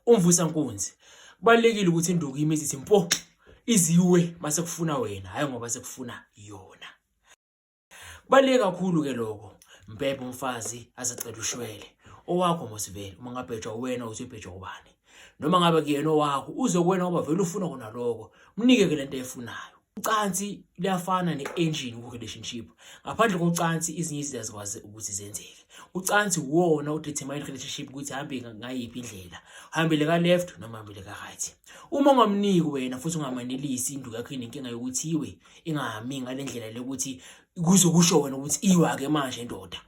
umvusa nkunzi kubalekile ukuthi induku imizi ithi mpo iziwe mase kufuna wena hayi ngoba sekufuna yona kubaleke kakhulu ke lokho mbhebhe umfazi azacela ushwele owakho mosivele uma ngabhejwa wena uthi ubhejwa ubani noma ngabe kuyena owakho uzokwena ngoba vele ufuna kona lokho mnike ke lento efunayo Ucansi luyafana ne-engine ku-relationship. Ngaphandle kocansi izinye izinto azikwazi ukuthi zenzeke. Ucansi uwona udetermine relationship ukuthi hambe ngayiphi indlela. Hambele ka left noma hambele ka right. Uma ungamniki wena futhi ungamanelisi induku yakho inenkinga yokuthi iwe ingahami ngale ndlela lokuthi kuze kusho wena ukuthi iwa ke manje ndoda.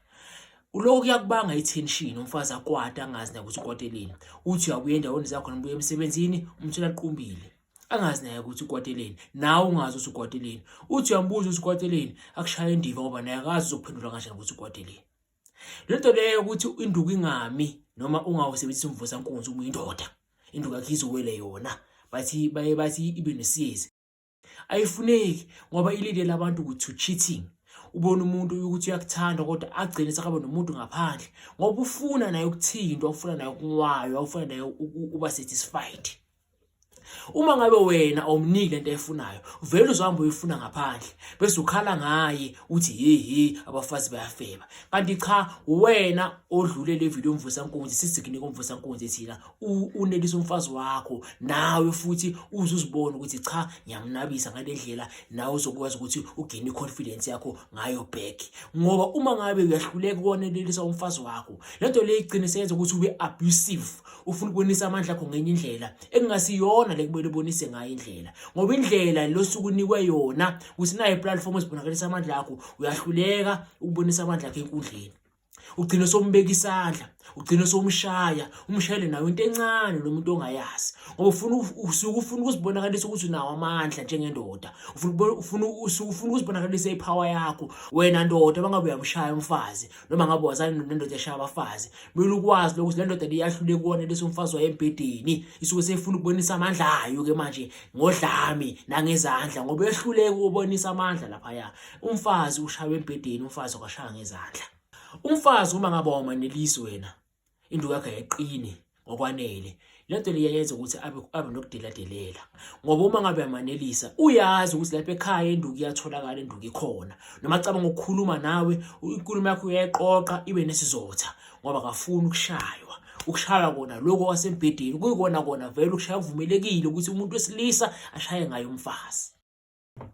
Lokho kuyakubanga i-tension umfazi akwata angazi nakuthi ukwateleni. Uthi uyabuya endaweni zakho noma ubuya emsebenzini umthola qumbile. angazi naye ukuthi ukwateleni nawe ungazi ukuthi ukwateleni uthi uyambuza ukuthi ukwateleni akushaye indiva ngoba naye akazi uzokuphendula kanjani ukuthi ukwateleni le nto leyo ukuthi induku ingami noma ungawusebenzisi umvusankunzi uma uyindoda induku yakhe izowele yona bathi baye bathi ibe nesizi ayifuneki ngoba ilindele abantu ukuthi to cheating ubona umuntu ukuthi uyakuthanda kodwa agcine sekaba nomuntu ngaphandle ngoba ufuna naye ukuthintwa ufuna naye ukunwaywa ufuna naye uba satisfied uma ngabe wena awumniki lento efunayo vele uzohamba uyifuna ngaphandle bese ukhala ngaye uthi hehe abafazi bayafeba kanti cha wena odlule le video umvusa nkunzi sisikunike umvusa nkunzi thina unelisa umfazi wakho nawe futhi uzuzibona ukuthi cha ngiyamnabisa ngalendlela nawe uzokwazi ukuthi ugene confidence yakho ngayo back ngoba uma ngabe uyahluleka konelisa umfazi wakho lento le igcine senza ukuthi ube abusive ufuna ukubonisa amandla akho ngenye indlela ekungasiyona le kumele ubonise ngayo indlela ngoba indlela losuku unikwe yona ukuthi nayo iplatform esibonakalisa amandla akho uyahluleka ukubonisa amandla akho enkundleni ugcine sombeka isandla ugcine somshaya umshayele nayo into encane lo muntu ongayazi ngoba ufuna usuke ufuna ukuzibonakalisa ukuthi unawo amandla njengendoda ufuna ufuna usuke ufuna ukuzibonakalisa ipower yakho wena ndoda bangabe uyamshaya umfazi noma ngabe wazana nendoda eshaya abafazi kumele ukwazi lokuthi le ndoda liyahlule kuwona lesi umfazi wayo embhedeni isuke seyifuna ukubonisa amandla ayo ke manje ngodlami nangezandla ngoba ehluleke ukubonisa amandla laphaya umfazi ushaywe embhedeni umfazi akashaya ngezandla umfazi uma ngabe wamanelisi wena induku yakhe yayiqini ngokwanele lento le yayenza ukuthi abe abe nokudeladelela ngoba uma ngabe amanelisa uyazi ukuthi lapha ekhaya induku iyatholakala induku ikhona noma acabanga ukukhuluma nawe inkulumo yakho uyayiqoqa ibe nesizotha ngoba akafuni ukushaywa ukushaya kona lokho kwasembhedeni kuyikona kona vele ukushaya kuvumelekile ukuthi umuntu wesilisa ashaye ngayo umfazi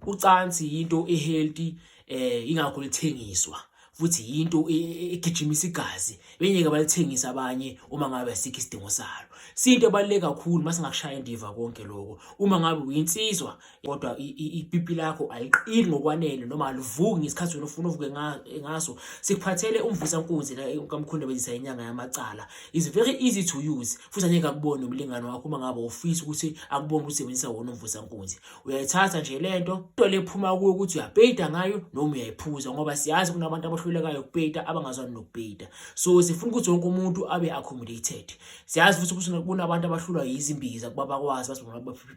ucansi yinto ehealthy eh ingakho lithengiswa futhi yinto e, e, egijimisa igazi benyeke balithengisa abanye uma ngabe asikho isidingo salo sinto ebaluleke kakhulu mase ngakushaya indiva konke lokho uma ngabe uyinsizwa kodwa ipipi lakho aliqini ngokwanele noma alivuki ngesikhathi wena ufuna uvuke ngaso sikuphathele umvusa nkunzi la kamkhulu bezisa inyanga yamacala is very easy to use futhi angeke akubone umlingano wakho uma ngabe ufisa ukuthi akubone usebenzisa wona umvusa nkunzi uyayithatha nje le nto into le phuma kuyo ukuthi uyapeyita ngayo noma uyayiphuza ngoba siyazi kunabantu abahlulekayo ukupeyita abangazwani nokupeyita so sifuna ukuthi wonke umuntu abe accommodated siyazi futhi ukuthi kunabantu abahlulwa yizimbiza kuba bakwazi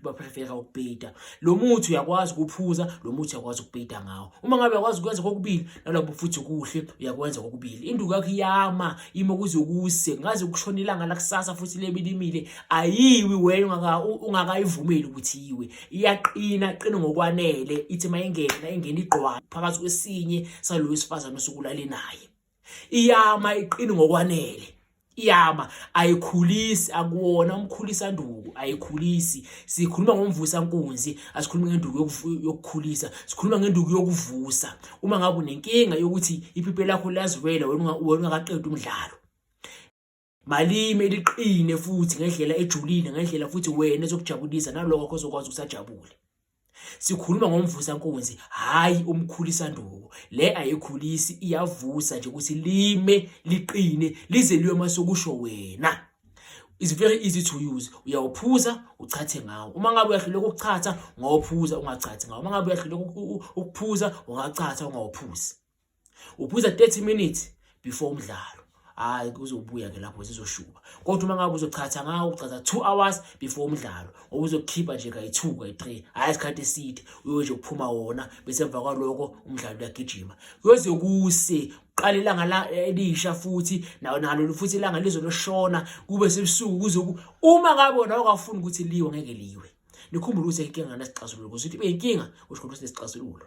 baprefera ukupeyita lo muthi uyakwazi ukuphuza lo muthi uyakwazi ukupeyita ngawo uma ngabe uyakwazi ukwenza kokubili nalabo futhi kuhle uyakwenza kokubili induku yakho iyama imo kuze kuse ngaze ukushona ilanga lakusasa futhi lebilimile ayiwi wena ungaka ungakayivumeli ukuthi yiwe iyaqina qina ngokwanele ithi mayingena ingena igqwa phakathi kwesinye salo wesifazane osukulale naye iyama iqini ngokwanele iyama ayikhulisi akuwona umkhulisa nduku ayikhulisi sikhuluma ngomvusa nkunzi asikhulumi ngenduku yokukhulisa sikhuluma ngenduku yokuvusa uma ngabe unenkinga yokuthi iphiphe lakho liyaziwela wena ungakaqedi umdlalo malime liqine futhi ngendlela ejulile ngendlela futhi wena ezokujabulisa nalokho ozokwazi ukusajabule sikhuluma ngomvusa nkunzi hayi umkhulisa nduku le ayikhulisi iyavusa nje ukuthi lime liqine lize liyo masokusho wena is very easy to use uyawuphuza uchathe ngawo uma ngabe uyahluleka ukuchatha ngawuphuza ungachathi ngawo uma ngabe uyahluleka ukuphuza ungachatha ungawuphuzi uphuza 30 minutes before umdlalo hayi kuzobuya ke lapho zizoshuba kodwa uma ngabe uzochatha ngawo uchatha 2 hours before umdlalo ngoba uzokhipha nje kayi-2 kayi-3 hhayi isikhathi eside uyoje ukuphuma wona bese emva kwaloko umdlalo uyagijima kuyoze kuse qala ilanga la elisha futhi nalo futhi ilanga lizoloshona kube sebusuku kuze uma ngabe wona wakafuni ukuthi liwe ngeke liwe nikhumbule ukuthi inkinga ngesixazululo ukuthi ibe inkinga usho ukuthi sinesixazululo